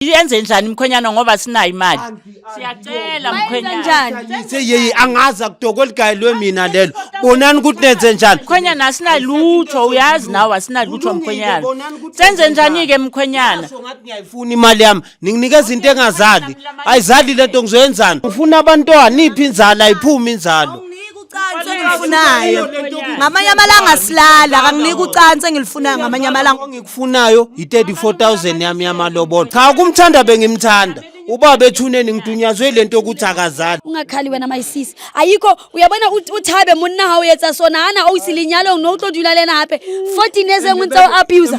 yenze njani mkhwenyana ngoba sinayo imali siyacela mkhwenyana yeye angazi akudoko ligayelwe mina lelo bonani ukuthi nenze njani mkhwenyana asinalutho uyazi nawe asinalutho mkhwenyana senze njani-ke mkhwenyana ngathi ngiyayifuna imali yami ninginikeza into engazali ayizali le nto ngizoyenzani ufuna abantwana iphi inzalo ayiphumi inzalo ucansi engilifunayo ngamanye amalanga silala kanginike ucansi engilifunayo ngamanye amalanga ongikufunayo yi-34000 yami yamalobola cha ukumthanda bengimthanda ubaba ethuneni ngidunyazwe le nto yokuthi akazali ungakhali wena mayisisi ayikho uyabona ut- uthabe monna ha o etsa sona ha na o ise lenyalong no o tlo dula le ena hape 14 years engwe ntse o abusa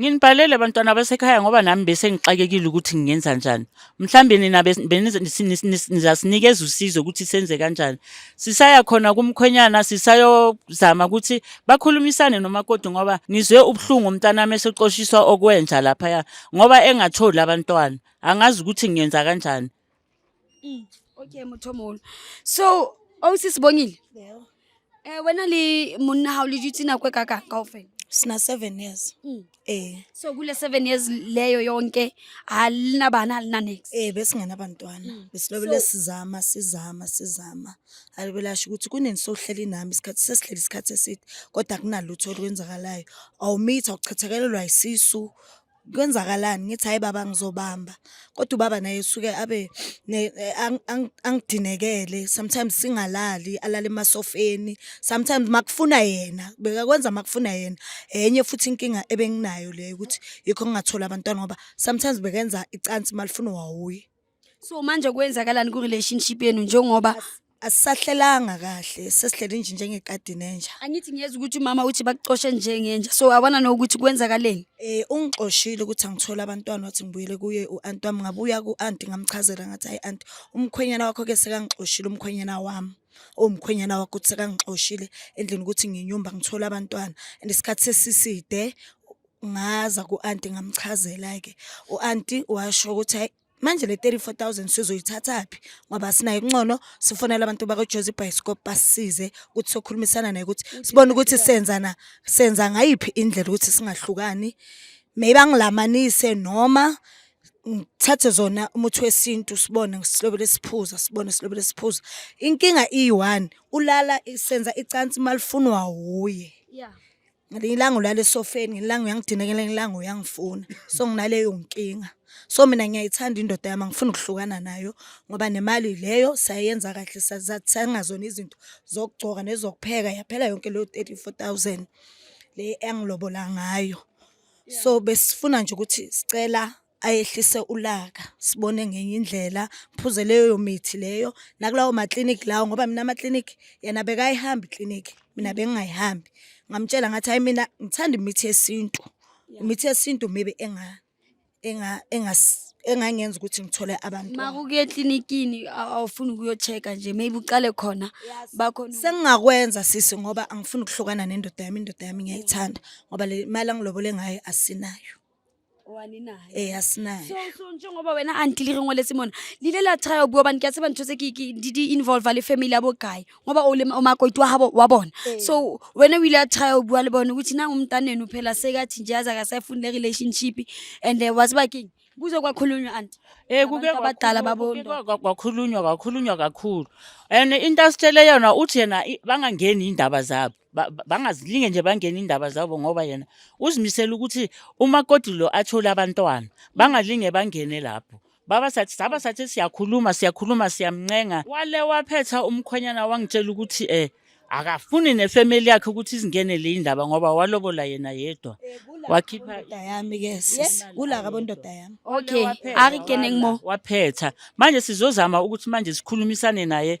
Nginibhalele abantwana basekhaya ngoba nami bese ngixakekile ukuthi ngingenza njani. Mhlambe nina nizasinikeza usizo ukuthi senze kanjani. Sisaya khona kumkhwenyana sisayozama ukuthi bakhulumisane nomakoti ngoba ngizwe ubuhlungu umntanami esexoshiswa okwenja laphaya ngoba engatholi abantwana. Angazi ukuthi ngiyenza kanjani. Mm. Okay Mothomolo. So awusisibongile? Oh, yeah. Eh wena le monna ha o le dutse nako e ka ka kaofela? Sina 7 years. Mm. Eh. So kule 7 years leyo yonke alina bana alina next. Eh besingena abantwana. Mm. Besilobele so, sizama sizama sizama. Alibelasho ukuthi kunini sohleli nami isikhathi sesihleli isikhathi eside kodwa kunalutho olwenzakalayo. Awumitha ukuchathekelelwa isisu kwenzakalani ngithi hayi baba ngizobamba kodwa ubaba naye usuke abe ne- eh, ang- ang- angidinekele sometimes singalali alale emasofeni sometimes makufuna yena bekakwenza makufuna yena enye futhi inkinga ebenginayo leyo ukuthi yikho ngingathola abantwana ngoba sometimes bekenza icansi malifuna wawuye so manje kwenzakalani ku-relationship yenu njengoba asisahlelanga kahle sesihlele nje njengekadi nenja angithi ngiyeza ukuthi umama uthi bakucoshe njengenja so abona nokuthi kwenzakaleni eh ungixoshile ukuthi angithole abantwana wathi ngibuyele kuye u-anti wami ngabuya ku-anti ngamchazela ngathi hayi anti umkhwenyana wakho ke sekangixoshile umkhwenyana wami owumkhwenyana wakho ukuthi sekangixoshile endlini ukuthi nginyumba ngithole abantwana and isikhathi sesiside ngaza ku-anti ngamchazela-ke u-anti washo ukuthi hayi Manje le 34000 sizoyithathaphi ngoba sinayo incono sifonela abantu bakoJozi Bioscope basisize ukuthi sokhulumisana naye ukuthi sibone ukuthi senza na senza ngayiphi indlela ukuthi singahlukani maybe angilamanise noma ngithathe zona umuthi wesintu sibone silobele siphuza sibone silobele siphuza inkinga iyi-one ulala senza icansi malifunwa wuye yeah. ngelinye ilanga ulala esofeni ngelinye ilanga uyangidina ngelinye ilanga uyangifuna so nginaleyo nkinga so mina ngiyayithanda indoda yami angifuni ukuhlukana nayo ngoba nemali leyo sayenza kahle sathenga zona izinto zokugcoka nezokupheka yaphela yonke leyo 34000 le engilobola ngayo so besifuna nje ukuthi sicela ayehlise ulaka sibone ngenye indlela phuze leyo mithi leyo nakulawo makliniki lawo ngoba mina amakliniki yena bekayihambi ikliniki mina bengingayihambi ngamtshela ngathi hayi mina ngithanda imithi yesintu imithi yesintu maybe enga enga engas engangenza ukuthi ngithole abantu uma kukuye eklinikini awufuni ukuyocheka nje maybe uqale khona bakhona sengingakwenza sisi ngoba angifuni ukuhlukana nendoda yami indoda yami ngiyayithanda ngoba le mali angilobole ngayo asinayo ee asinayo so so njengoba wena anti li re ngoletse mona lile la try o bua bane ke a tseba ntho tse ke ke- di di involve le family ya bo kae ngoba o le o makoiti wa habo wa bona Ee. so wena o ile a try o bua le bone ukuthi nang umntanenu phela sekathi nje yaze akasayifuni le relationship and um waziba keng kuze kwakhulunywa anti Eh kuke Abantu abadala kwakhulunywa- babonda. kuke kwa- kwakhulunywa kwakhulunywa kakhulu. And into asitshele yona uthi yena i- bangangeni indaba zabo. Ba- ba- bangazilinge nje bangene indaba zabo ngoba yena uzimisele ukuthi umakoti lo athole abantwana bangalinge bangene lapho baba sathi saba sathi siyakhuluma siyakhuluma siyamncenga wale waphetha umkhwenyana wangitshela ukuthi eh akafuni nefamily yakhe ukuthi izingene le indaba ngoba walobola yena yedwa wakhipha ndoda yami ke sis kulaka bondoda yami Okay, Waphetha, a re keneng mo. waphetha manje sizozama ukuthi manje sikhulumisane naye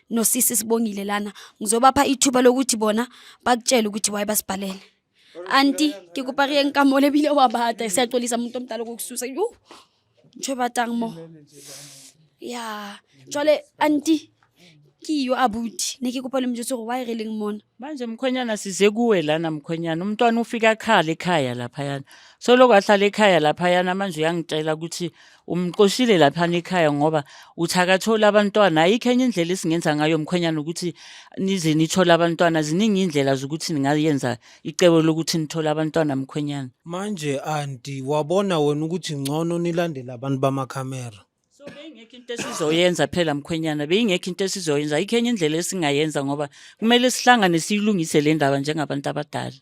nosisi sibongile lana ngizobapha ithuba lokuthi bona bakutshele ukuthi waye basibhalele anti ke kopa re yeng ka mole ebile wa bata se axolisa muntu omdala kokususa yo ntsho batang mo ya jwale anti ke yo abuti ne ke kopa le mjotse gore waye re leng mona manje mkhwenyana size kuwe lana mkhwenyana umntwana ufika akhala ekhaya laphayana soloko ahlala ekhaya laphayana manje uyangitshela ukuthi umxoshile laphana ekhaya ngoba uthi akathole abantwana ayikho enye indlela esingenza ngayo mkhwenyana ukuthi nize nithole abantwana ziningi iy'ndlela zokuthi ningayenza icebo lokuthi nithole abantwana mkhwenyana manje anti wabona wena ukuthi ngcono nilandele abantu bamakhamera so beyingekho into esizoyenza phela mkhwenyana beyingekho into esizoyenza ayikho enye indlela esingayenza ngoba kumele sihlangane siyilungise le ndaba njengabantu abadala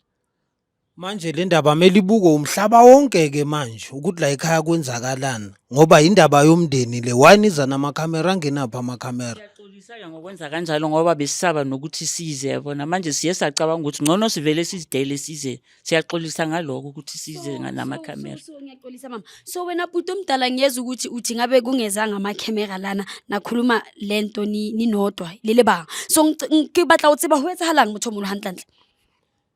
Manje le ndaba kumele ibukwe umhlaba wonke-ke manje ukuthi la ekhaya kwenzakalani ngoba yindaba yomndeni le why niza namakhamera angenaphi amakhamera siyaxolisa-ke ngokwenza kanjalo ngoba besisaba nokuthi size yabona manje siye sacabanga ukuthi ngcono sivele sizidele size siyaxolisa ngaloko ukuthi size namakhamera so, so, so, ngiyaxolisa mama so wena bhuti omdala ngiyeza ukuthi uthi ngabe kungezanga amakhamera lana nakhuluma le nto ni- ninodwa lele banga so ngic- ngibatla go tseba go etsagalangmotho mogolo gantlentle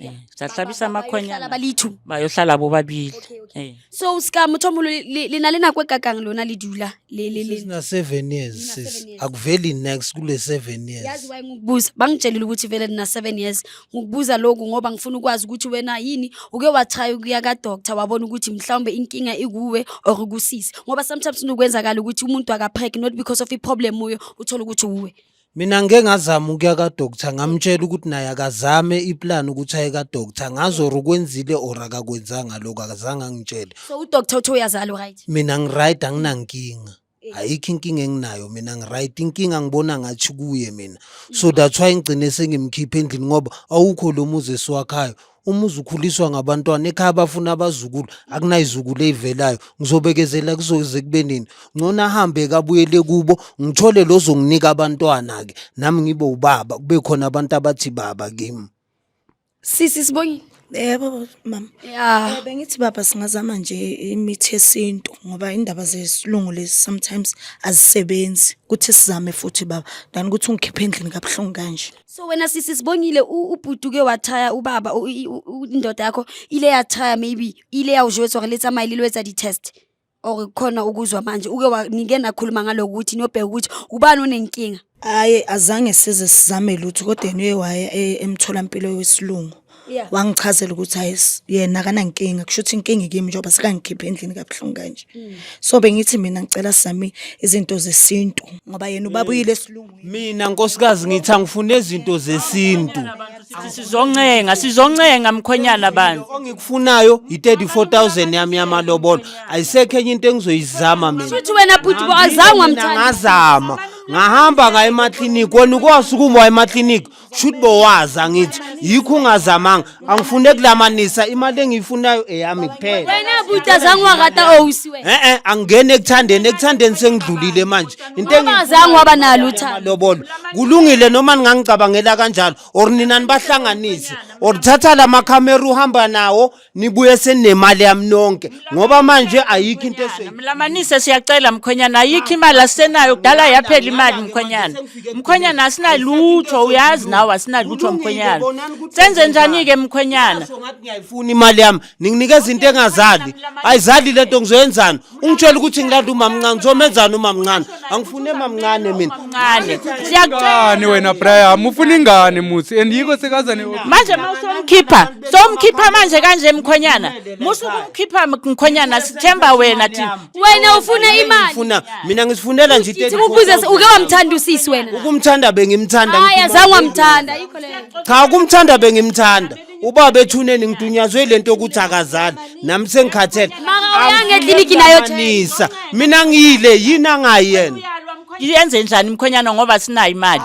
Eh, sahlabisa amakhwenyana ba le two ba yo hlala bo babili Okay, okay. eh so seka motho molo le na le nako e kakang lona le dula le le le sina seven years Nina sis seven years. akuveli next kule seven years yazi waye ngikubuza bangitshelile ukuthi vele nina seven years ngikubuza lokhu ngoba ngifuna ukwazi ukuthi wena yini uke watraya ukuya kadoctor wabona ukuthi mhlawumbe inkinga ikuwe or kusisi ngoba sometimes kunokwenzakala ukuthi umuntu akapreg not because of i-problem uyo uthole ukuthi uwe Mina ngike ngazama ukuya ka-doctor ngamtshela ukuthi naye akazame iplan ukuthi aye ka-doctor ngazi or ukwenzile or akakwenzanga lokho akazange angitshele so udoctor uthi uyazala uright mina ngiright anginankinga ayikho inkinga enginayo mina ngiright inkinga ngibona ngathi kuye mina so that's why ngigcine sengimkhipha endlini ngoba awukho lo muzi esiwakhayo umuzi ukhuliswa ngabantwana ekhaya bafuna abazukulu akunayizukulu eyivelayo ngizobekezela kuzoze kube nini ngcono ahambe kabuyele kubo ngithole lozonginika abantwana-ke nami ngibe ubaba kube khona abantu abathi baba kimi sisi sibongile yebo mama ya eh, bengithi baba singazama nje imithi yesintu ngoba indaba zesilungu lezi sometimes azisebenzi kuthi sizame futhi baba than ukuthi ungikhiphe endlini kabuhlungu kanje so wena sisi sibongile u- ubhuti uke wathaya ubaba u- i- u- u- indoda yakho ile yathaya maybe ile yawujwetsa or le tsamaye lilo etsa di-test or khona ukuzwa manje uke wa- nike nakhuluma ngaloku ukuthi niyobheka ukuthi ubani onenkinga hayi azange size sizame lutho kodwa yena uye waya e- emtholampilo wesilungu Yeah. wangichazela ukuthi hayi s- yena akanankinga kusho ukuthi inkinga ikimi njengoba sekangikhiphe endlini kabuhlungu kanje so bengithi mina ngicela sami izinto zesintu ngoba yena ubaba uyile esilungwini mina nkosikazi ngithi angifune izinto zesintu sizoncenga sizoncenga mkhwenyana bandla ongikufunayo yi-34000 yami yamalobolo ayisekho enye into engizoyizama mina futhi wena bhuti bo azange Mina wamthanda ngazama ngahamba ngaye emakliniki wena ukwazi ukuma waye emakliniki shuthi bowazi angithi yikho ungazamanga angifune kulamanisa imali engiyifunayo eyami kuphela wena buti azange wakata owusi wena eh eh angingene ekuthandeni ekuthandeni sengidlulile manje into engi- ungazange waba nalo uthando lobolo kulungile noma ningangicabangela kanjalo or nina nibahlanganise or thatha la makhamera uhamba nawo nibuye senemali yami nonke ngoba manje ayikho into esoyi mlamanise siyacela mkhwenyana ayikho imali asisenayo kudala yaphela imali mkhwenyana mkhwenyana asinalutho uyazi nawe asinalutho mkhwenyana senze njani-ke mkhwenyana ngathi ngiyayifuna imali yami ninginikeza into engazali ayizali lento ngizoyenzani ungitshela ukuthi ngilanda umamncane ngizomenzani umamncane angifuni emamncane mina Mncane. Siyakucela. Ngani wena Brian, ufuna ingane muthi and yiko sekaza ne Manje mawusomkhipha, somkhipha manje kanje mkhonyana. Musu kumkhipha mkhonyana sithemba wena thina. wena ufuna imali ngifuna mina ngisifunela nje Sithi ukubuze se- uke wamthanda usisi wena ukumthanda bengimthanda hayi ngifuna- azange wamthanda yikho leyo cha ukumthanda bengimthanda ubaba ethuneni ngidunyazwe lento yokuthi akazali nami sengikhathele Maka eklinikhi nayo Nisa mina ngiyile yini angayi yena yenze njani mkhwenyana ngoba sinayo imali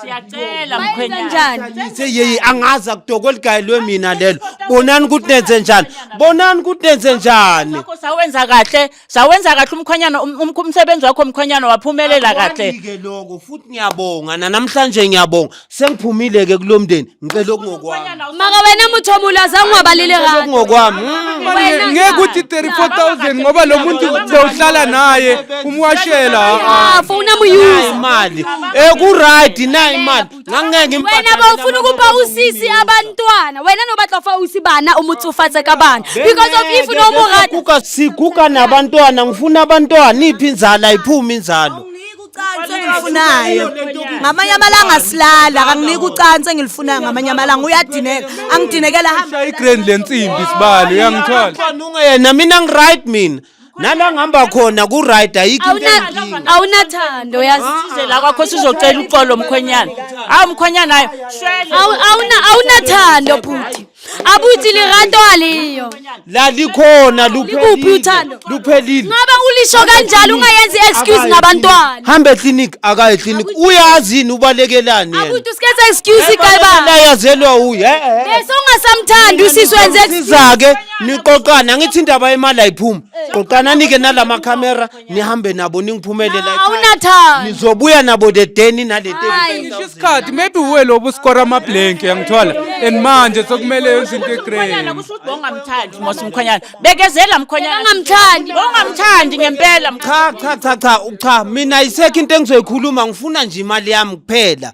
siyacela mkhwenyana Nise yeyi angazi akudoko ligayelwe mina lelo bonani ukuthi nenze njani bonani ukuthi nenze njani Sakho sawenza kahle Sawenza kahle umkhwenyana um- um- umsebenzi wakho mkhwenyana waphumelela kahle. Akwandike lokho futhi ngiyabonga nanamhlanje ngiyabonga sengiphumile ke kulomndeni ngicela okungokwami maka wena muthomula azange wabalile ngicela kahle okungokwami Mm. Wena ngeke cha. uthi 34000 ngoba lo muntu bewuhlala naye umwashela ha, ha. Ah, funa muyuza imali ekuright na imali ngangeke ngimpathe wena bawufuna ukuba usisi abantwana wena nobatla fa usi bana umutsufatse ka bana because of if no mo rata kuka siguka nabantwana ngifuna abantwana iphi inzala iphuma inzalo ucansi engilufunayo ngamanye amalanga silala kanginike ucansi engilufunayo ngamanye amalanga uyadineka angidinekela hamba igrand lensimbi sibali uyangithola Qhanuka yena mina ngiright mina nala ngihamba khona ku-right ayikho into Awuna- enginkinga awunathando yazi Size la kwakho sizocela uxolo mkhwenyana hawu mkhwenyana hayi shwele Awu- awuna- awunathando bhuti abuthi lirato aliyo lalikhona Likuphi luphelile uthando? luphelile ngoba ulisho kanjalo ungayenzi excuse ngabantwana hamba eclinic akaye eclinic uyazi yini ubalekelani yena abuthi usikhetha excuse ikayibaba layazelwa uye bese ungasamthandi usisi wenze excuse. siza-ke niqoqana ngithi indaba yemali ayiphumi qoqana nike nalama camera nihambe nabo ningiphumele la ekhaya. awunathando nizobuya nabo the day ninale Hayi. Ngisho isikhathi maybe uwe lobo uskora ama blank yangithola and manje sekumele yenze into Mkhonyana egrey kusho ukuthi bongamthandi Mosi Mkhonyana. Bekezela Mkhonyana. Angamthandi. Bongamthandi ngempela Mkhonyana. cha cha cha cha cha mina isekho into engizoyikhuluma ngifuna nje imali yami kuphela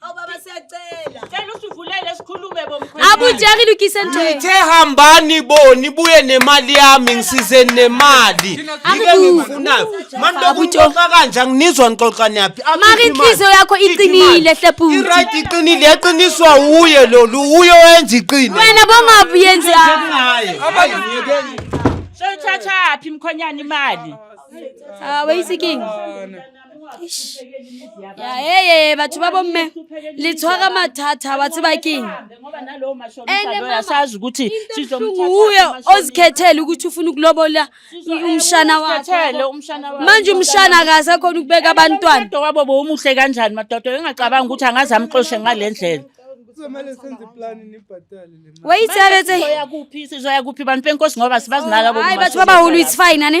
Awu baba siyacela. Cela usivulele sikhulume bomkhwenyana. Abujeki lukise nto. Ngithe hambani bo nibuye nemali yami ngisize nemali. Yike ngifunayo. Manje lokuxoxa kanje anginizwa ngixoxa niyaphi. Mari inhliziyo yakho iqinile hle bhuti. Iright iqinile yaqiniswa uye lolu uye wenza iqini. Wena bongabu yenza. Hayi ngiyekeni. Sewuthathaphi mkhonyana imali? Ah, wayisikingi. ya eye batho ba bomme le tshwara mathata wa tseba keng asazi ukuthi uye ozikhethele ukuthi ufuna ukulobola umshana wakhemanje umshana akasekhona ukubeka abantwana wabo bowumuhle kanjani madoda engacabanga ukuthi angaze amxoshe ngale ndlela kuzomele senze iplan nibhatale le mali wayithabethe sizoya kuphi sizoya kuphi bantu benkosi ngoba sibazinaka bo hayi bathi babahulu it's fine ane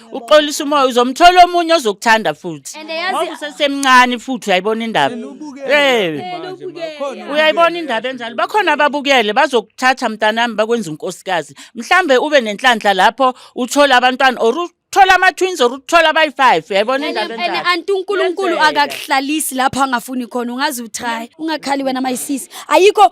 uxolisa umoya uzomthola omunye ozokuthanda futhi And yazi- ngoba usesemncane futhi uyayibona indaba Eh, uyayibona indaba enjalo bakhona ababukele bazokuthatha mntanami bakwenza unkosikazi mhlambe ube nenhlanhla lapho uthole abantwana or uthole ama-twins or uthole abayi-five uyayibona indaba ene enjalo anti unkulunkulu Kuyenzeka. akakuhlalisi lapho angafuni khona ungaze utry ungakhali wena mayisisi ayikho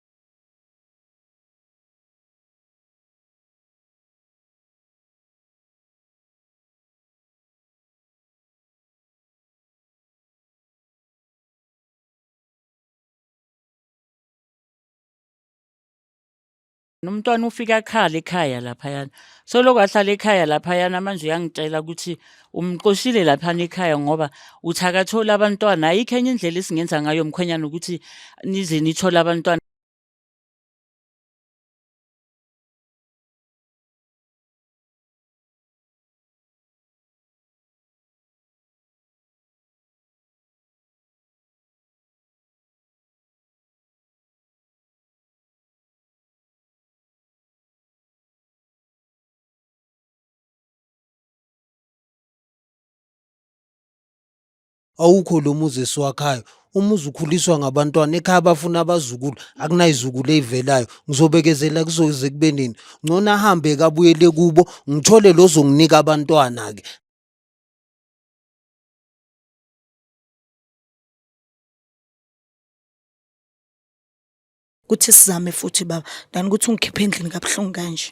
Umntwana ufike akhale ekhaya laphayana. Selokhu ahlala ekhaya laphayana manje uyangitshela ukuthi umxoshile laphana ekhaya ngoba uthi akathole abantwana ayikho enye indlela esingenza ngayo mkhwenyana ukuthi nize nithole abantwana awukho lo muzi esiwakhayo umuzi ukhuliswa ngabantwana ekhaya abafuna abazukulu akunayizukulu eyivelayo ngizobekezela kuzoze kube nini ngcono ahambe kabuyele kubo ngithole lozonginika abantwana-ke kuthi sizame futhi baba than ukuthi ungikhiphe endlini kabuhlungu kanje